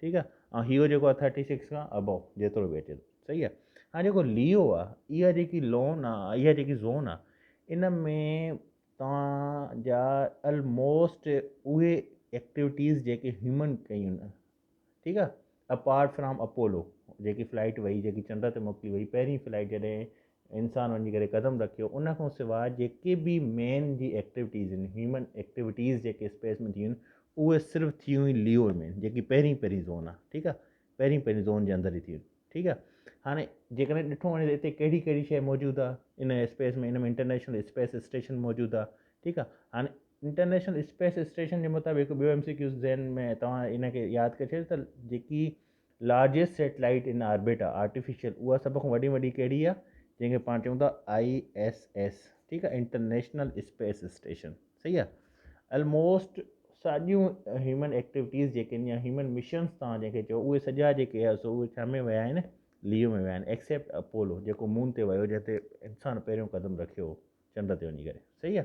ٺيڪ آ ۽ ھيو جيڪو آ ٿرٽي سڪس کان ابو جيترو به اچي ٿو صحيح آ ھاڻي جيڪو ليو آ اھا جيڪي لون آ اھا جيڪي زون آ ان ۾ توھان جا الموسٽ اھي ايڪٽيوٽيز جيڪي ھيومن ڪيون ٺيڪ آ اپارٽ فرام اپولو جيڪي فلائٽ وئي جيڪي چنڊ تي موڪلي وئي پهرين فلائٽ جڏهن انسان وڃي ڪري قدم رکيو ان کان سواء جيڪي به مين جي ايڪٽيوٽيز آهن هيومن ايڪٽيوٽيز جيڪي اسپيس ۾ ٿيون اهي صرف ٿيون هي ليو ۾ جيڪي پهرين پهرين زون آهي ٺيڪ آهي پهرين پهرين زون جي اندر ئي ٿيون ٺيڪ آهي هاڻي جيڪڏهن ڏٺو وڃي ته هتي ڪهڙي ڪهڙي شيء موجود آهي ان اسپيس ۾ ان ۾ انٽرنيشنل اسپيس اسٽيشن موجود آهي ٺيڪ آهي هاڻي انٽرنيشنل اسپيس اسٽيشن جي مطابق ٻيو ايم سي ڪيو ذهن ۾ توهان ان کي ياد ڪري ڇڏيو ته جيڪي لارجيسٽ سيٽلائيٽ ان آربٽ آ آرٽيفيشل اها سڀ کان وڏي ۾ وڏي ڪهڙي آ جنهن کي پاڻ چئون ٿا آئي ايس ايس ٺيڪ آ انٽرنيشنل اسپيس اسٽيشن صحيح آ الموسٽ ساڄيون هيومن ايڪٽيوٽيز جيڪي آهن يا هيومن مشنس تان جنهن کي چئو اهي سڄا جيڪي آهي سو اهي ڇا ۾ ويا آهن ليو ۾ ويا آهن ايڪسيپٽ اپولو جيڪو مون تي ويو جنهن تي انسان پهريون قدم رکيو چنڊ تي وڃي ڪري صحيح آ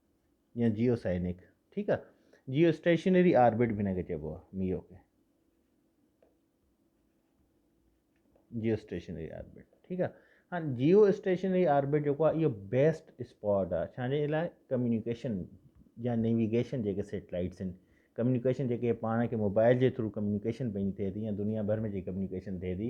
يا جيو سائنڪ ٺيڪ آ جيو اسٽيشنري آربٽ به نڪي چئبو آ ميو کي جيو اسٽيشنري آربٽ ٺيڪ آ ها جيو اسٽيشنري آربٹ جيڪو آ اهو بيسٽ اسپاٹ آ ڇا جي لاء ڪميونيڪيشن يا نيويگيشن جيڪي سيٽلائيٽس آهن ڪميونيڪيشن جيڪي پاڻ کي موبائل جي ٿرو ڪميونيڪيشن پنهنجي ٿئي ٿي يا دنيا ڀر ۾ جيڪي ڪميونيڪيشن ٿئي ٿي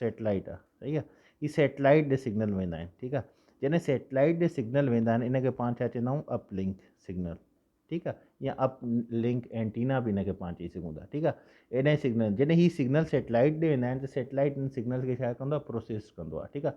سيٽلائيٽ آ صحيح آ هي سيٽلائيٽ ڏي سگنل ويندا آهن ٺيڪ آ جڏهن سيٽلائيٽ ڏي سگنل ويندا آهن ان کي پاڻ ڇا چوندا آهيون اپ لنڪ سگنل ٺيڪ آ يا اپ لنڪ اينٽينا به ان کي پاڻ چئي سگهون ٿا ٺيڪ آ ايڏانهن سگنل جڏهن هي سگنل سيٽلائيٽ ڏي ويندا آهن ته سيٽلائيٽ ان سگنل کي ڇا ڪندو آ پروسيس ڪندو آ ٺيڪ آ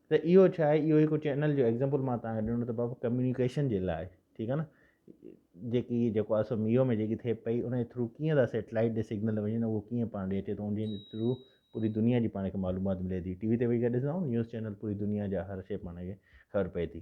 ته اهو ڇا آهي اهو هڪ چينل جو ايگزامپل مان تهان کي ڏنو ته بابا ڪميونيڪيشن جي لاء ٺيڪ آهي نه جيڪي جيڪو اسو ميو ۾ جيڪي ٿئي پئي ان جي ٿرو ڪيئن ٿا سيٽلائيٽ ڏي سگنل وڃن اهو ڪيئن پاڻ ڏي اچي ٿو انجي ٿرو پوري دنيا جي پاڻ کي معلومات ملي ٿي ٽي وي تي ويهي ڪري ڏسندا آهيو نيوز چينل پوري دنيا جا هر شي پاڻ کي خبر پئي ٿي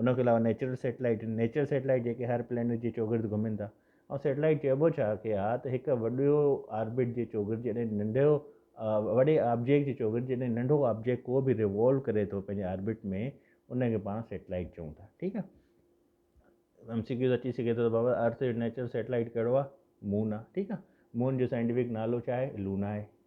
ان کان علاوه نيچرل سيٽلائيٽ آهن، نيچرل سيٽلائيٽ جيڪي هر پلينيٽ جي چوگرد گهمين ٿا ۽ سيٽلائيٽ چئبو ڇا کي آهي ته هڪ وڏو آربٽ جي چوگرد جڏهن ننڍو وڏي آبجيڪٽ جي چوگرد جڏهن ننڍو آبجيڪٽ ڪو به ريوولو ڪري ٿو پنهنجي آربٽ ۾ ان کي پاڻ سيٽلائيٽ چئون ٿا ٺيڪ آهي ايم سي ڪيوز اچي سگهي ٿو ته بابا ارٿ جو نيچرل سيٽلائيٽ ڪهڙو آهي مون آهي ٺيڪ آهي مون جو سائنٽيفڪ نالو ڇا آهي لونا آهي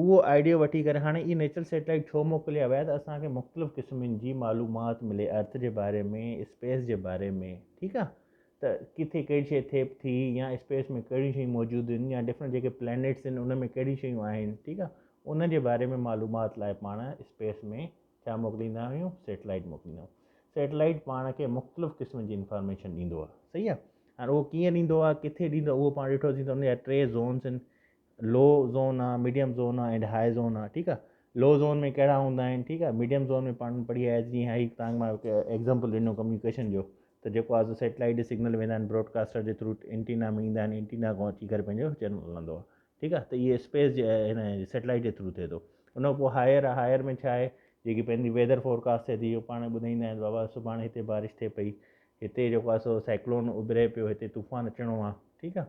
اهو آئيڊيو وٺي ڪري هاڻي اهي نيچرل سيٽلائيٽ ڇو موڪليا ويا ته اسان کي مختلف قسمن جي معلومات ملي ارٿ جي باري ۾ اسپيس جي باري ۾ ٺيڪ آ ته ڪٿي ڪهڙي شيء ٿئي ٿي يا اسپيس ۾ ڪهڙيون شيون موجود آهن يا ڊفرنٽ جيڪي پلانيٽس آهن ان ۾ ڪهڙيون شيون آهن ٺيڪ آ ان جي باري ۾ معلومات لاء پاڻ اسپيس ۾ ڇا موڪليندا آهيون سيٽلائيٽ موڪليندا آهيون سيٽلائيٽ پاڻ کي مختلف قسم جي انفارميشن ڏيندو آ صحيح آ هاڻي اهو ڪيئن ڏيندو آ ڪٿي ڏيندو اهو پاڻ ڏٺوسين ته ان جا ٽي زونس آهن لو زون آ ميڊيم زون آ اينڊ هاء زون آ ٺيڪ آ لو زون ۾ ڪهڙا هوندا آهن ٺيڪ آ ميڊيم زون ۾ پاڻ پڙهي آيا جيئن هائي تانگ مان ايگزامپل ڏنو ڪميونيڪيشن جو ته جيڪو آ سو سيٽلائيٽ جي سگنل ويندا آهن براڊڪاسٽر جي ٿرو اينٽينا ۾ ايندا آهن اينٽينا کان اچي ڪري پنهنجو چينل هلندو آ ٺيڪ آ ته اهي اسپيس جي هن سيٽلائيٽ جي ٿرو ٿئي ٿو ان کان پوء هائر آ هائر ۾ ڇا آهي جيڪي پنهنجي ويدر فورڪاسٽ ٿئي ٿي پاڻ ٻڌائيندا آهن بابا سڀاڻي هتي بارش ٿئي پئي هتي جيڪو آ سو سائڪلون اڀري پيو هتي طوفان اچڻو آ ٺيڪ آ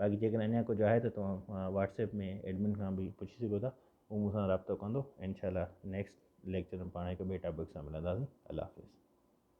باقي جيڪڏهن اڃا ڪجهه آهي ته توهان واٽس ايپ ۾ ايڊمن کان به پڇي سگهو ٿا هو مون سان رابطو ڪندو انشاء الله نيڪسٽ ليڪچر ۾ پاڻ هڪ ٻئي ٽاپڪ سان ملنداسين الله حافظ.